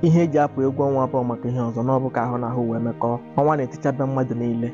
ihe e ji apụ egwu ọnwa abụọ maka ihe ọzọ na ọ bụ ka ahụ na ahụ wee mekọọ ọnwa na-etichabe mmadụ niile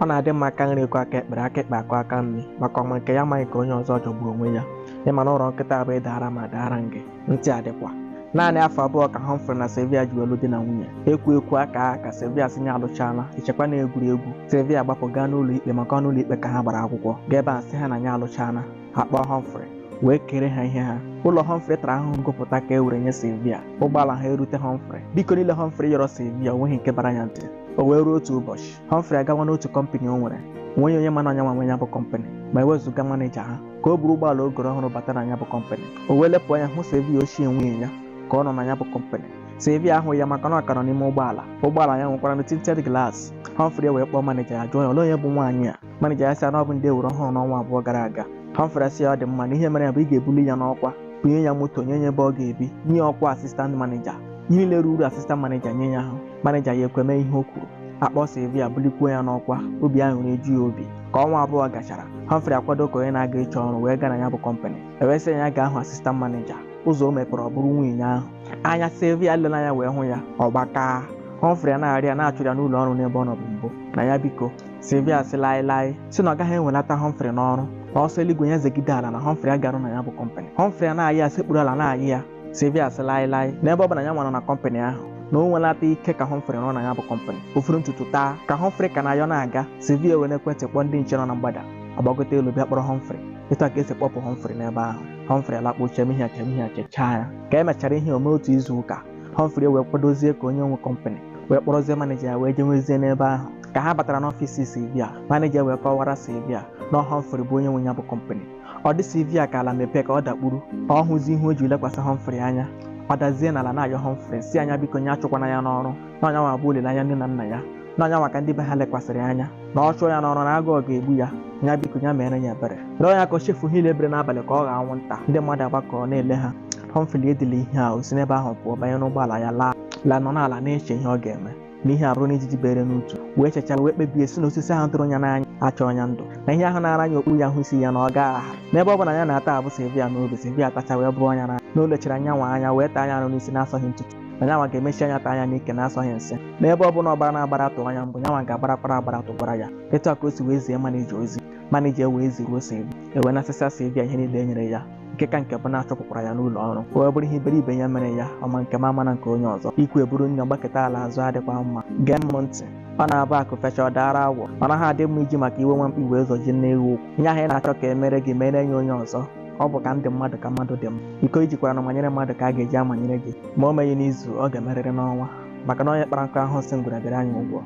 ọ na-adị mma aka nri akwọ aka ekpe aka ekpe akwọ aka nri maka ọma nke ya amaghị nke onye ọzọ jọgbu onwe ya ịma na ụrọ nkịta abụ ị daara m a daara ngị ntị adịkwa naanị afọ abụọ ka Humphrey na Sylvia ji wee lụ di na nwunye ekwu ekwu aka aka ka Sylvia sị nya alụchaala e chekwa na egwuregwu Sylvia gbapụ gaa n'ụlọ ikpe maka ọ n'ụlọ ikpe ka ha gbara akwụkwọ gaa ebe a sị ha na nya alụchaala a kpọọ Humphrey wee kere ha ihe ha ụlọ Humphrey tara ahụhụ gopụta ka e were nye Sylvia ụgbọala ha erute Humphrey biko niile Humphrey yọrọ Sylvia onweghị nke bara ya ntị o wee ruo otu ụbọchị Humphrey agawa n'otu kọmpanị o nwere onweghị onye ma na ọ nya nwa nwe ya bụ kọmpanị ma ewezụga maneja ha ka o buru ụgbọala o goro ọhụrụ bata na ya bụ kọmpanị o wee lepụ anya hụ Sylvia ochie nwunye ya ka ọ nọ na ya bụ kọmpanị Sylvia ahụ ya maka na ọ ka nọ n'ime ụgbọala ụgbọala ya nwekwara na tinted glass Humphrey wee kpọọ maneja ya jụọ ya ole onye bụ nwaanyị a maneja ya sị ya na ọ bụ ndị e were ọhụrụ n'ọnwa abụọ gara aga Humphrey asị ya ọ dị mma na ihe mere ya bụ ị ga-ebuli ya n'ọkwa bunye ya moto nye ya ebe ọ ga-ebi nye ọkwa assistant maneja ihe niile ruru assistant maneja nye ya ahụ maneja ya ekwe mee ihe o kwuru a kpọọ Sylvia bulikwuo ya n'ọkwa obi aṅụrị eju ya obi ka ọnwa abụọ gachara Humphrey akwado ka onye na-aga ịchọ ọrụ wee gaa na ya bụ kọmpanị e wee sị ya gaa hụ assistant maneja ụzọ o mepere ọ bụrụ nwunye ahụ anya Sylvia lere anya wee hụ ya ọ gbakaa Humphrey na-arịọ ya na a chụrụ ya n'ụlọ ọrụ n'ebe ọ nọbu mbụ na ya biko Sylvia sị laịlaị sị na ọ gaghị ewelata Humphrey n'ọrụ na ọ sọ eluigwe ya zegide ala na Humphrey aga arụ na ya bụ kọmpanị Humphrey ana-ayịọ ya sekpuru ala na-ayịọ ya Sylvia sị laịlaị n'ebe ọ bụ na ya nwara na kọmpanị ahụ na o nwelata ike ka Humphrey nọ na ya bụ kọmpanị o foro ntutu taa ka Humphrey ka na-ayọ na-aga Sylvia were ekwentị kpọọ ndị nche nọ na mgbada agbagote elu bịa kpọrọ Humphrey etu a ka e si kpọpụ Humphrey n'ebe ahụ Humphrey alakpuo chemie ya chemie ya chechaa ya ka e mechara ihe o me otu izu ụka Humphrey wee kwadozie ka onye nwe kọmpanị wee kpọrọzie maneja ya wee jewezie n'ebe ahụ ka ha batara n'ọfịs Sylvia maneja wee kọwara Sylvia na Humphrey bụ onye nwe ya bụ kọmpanị ọ dị Sylvia ka ala mepee ka ọ dakpuru ọ hụzi ihu o ji lekwasị Humphrey anya ọ dazie n'ala na-ayọ Humphrey sị nya biko nya achụkwana ya n'ọrụ na ọ nya nwa bụ olileanya nne na nna ya na ọ nya nwa ka ndị be ha lekwasịrị anya na ọ chụọ ya n'ọrụ na agụụ ga-egbu ya ya biko ya mere ya ebere rịọ ya ka o chefu ihe niile bere n'abalị ka ọ ghọọ anwụnta ndị mmadụ agbakọrọ na-ele ha Humphrey edila ihe a o si n'ebe ahụ pụọ banye n'ụgbọala ya laa la nọ n'ala na-eche ihe ọ ga-eme na ihe abụrụna ijiji bere n'utu wee chechara wee kpebie sị na osisi ahụ tụrụ ya n'anya achọọ ya ndụ na ihe ahụ na-ara anya okpuru ya hụ isi ya na ọ gaa aha n'ebe ọ bụ na ya na-ata abụ Sylvia n'obi Sylvia tachaa wee bụọ ya n'anya na o lechara nya nwa anya wee taa nya arụ n'isi na-asọghị ntutu na nya nwa ga-emechi anya taa nya n'ike na-asọghị nsị n'ebe ọ bụ na ọ gbara agbara tụọ nya mbụ nya nwa ga-agbarakwara agbara tụgwara ya etu a ka o si wee zie maneja ozi maneja wee ziruo Sylvia e wee nasịsa Sylvia ihe niile e nyere ya nke ka nke bụ na a chụpụkwara ya n'ụlọ ọrụ o wee bụrụ ihe iberibe ya mere ya ọma nke ma mana nke onye ọzọ ikwu eburu na-agbakụta ala azụ adịkwa mma gee m ntị ọ na-abụ akụ fechaa ọ daara awọ ọ naghị adị mma iji maka iwe nwa mkpi wee zọjie nne ewu ụkwụ ihe ahụ ị na-achọ ka e mere gị mere nye onye ọzọ ọ bụ ka m dị mmadụ ka mmadụ dị m iko i jikwara na-amanyere mmadụ ka a ga-eji amanyere gị ma o meghị n'izu ọ ga-emerịrị n'ọnwa maka na onye kpara nkụ ahụhụ sị ngwere bịara ya ụgwọ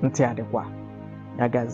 ntị adịkwa ya gazi